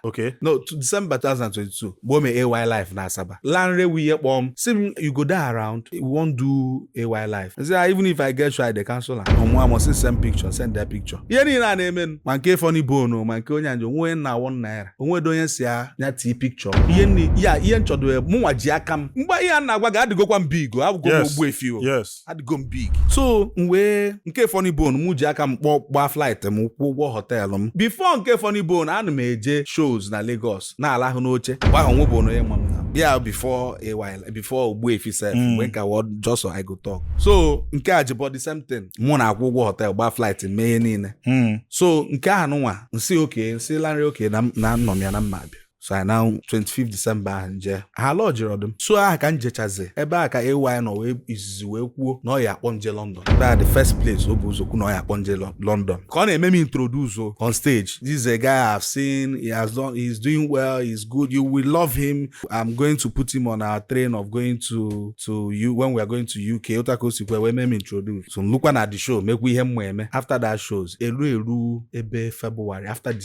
okay no to december 2022 mgbe o mee AY Live na asaba Lanre wee kpọọ m si m you go dey around we wan do AY Live I say, "Ah, even if i get show dey cancel ọ mụwa amụ si send picture sendịa picture ihe niile a na-eme m, ma nke funny bone ma nke onye Ajebo onwe onye na one naira onwedo onye si ya ya tii picture ihe nni ya ihe nchọdo mụnwa ji aka m mgbe ihe a na-agwa gị adịgokwa m big o awụgo m Yes. Ogbuefi o yes adịgo m big so m wee nke funny bone m ji aka m kpọọ gbaa flight m kwụọ ụgwọ họteelụ m before nke funny bone ana m eje shows na Lagos na-alahụ n'oche mgbe ahụ enwebe onye ma m na bịa before a while before Ogbuefi sef Mm. mgbe m ka wụ just I Go Tuk so nke Ajebo the same thing mụ na-akwụ ụgwọ họteelụ gbaa flight mee ihe niile so nke ahụ nwa m sị okay m sị Lanre okay na m- na anọ m ya na m ma abịa so anyị na 25 disemba ahụ m je ha lọjirọdụ m so aha ka m jechazi ebe a ka AY nọ wee izizi wee kwuo na ọ ya akpọ m je London ebe a the first place o bụ ụzọ kwu na ọ ya akpọ m je London ka ọ na-eme m introduce o on stage this is a guy I have seen he has done he is doing well he is good you will love him I'm going to put him on our train of going to to you when we are going to UK otu a ka o sikwa wee mee m introduce so m lukwa na the show mekwa ihe m ma eme after that shows elu elu ebe February after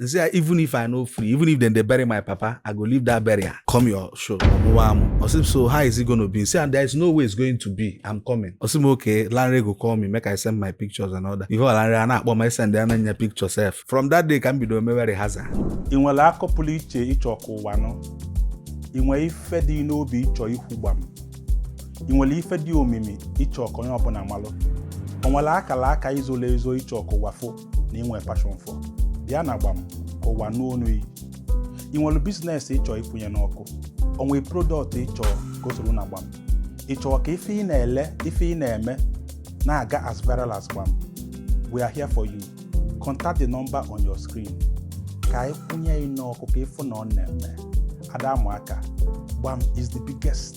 M sị ya even if I no free, even if dem dey bury my papa, I go leave that burial. Come your show, ọ mụwa amụ. Ọ sị m so how is it gonna be? M sị ya there is no way it's going to be. I'm coming. Ọ sị m okay, Lanre go call me make I send my pictures and all that. Before Lanre a na-akpọ m asendịala m ya picture sef. From that day ka m bido mewe rehearsal. Ị nwere akọ pụrụ iche ị chọ ka ụwa nụ. Ị nwere ife dị n'obi ị chọ ikwu gbam. Ị nwere ife dị omimi ị chọ ka onye ọbụla malụ. O nwere akara aka i zolu ezo ị chọ ka ụwa fụ. na i nwe passion for bịa na gbam ka ụwa nụ onu yị ị nwere biznes ị chọọ ịkwụnye n'ọkụ o nwe prodọkt ị chọọ igosi ọra na gbam ị chọọ ka ife ị na-ele ife ị na-eme na-aga as viral as gbam we are here for you contact the number on your screen ka anyị kwụnye yị n'ọkụ ka ị fụ na ọ na-eme ada amụ aka gbam is the biggest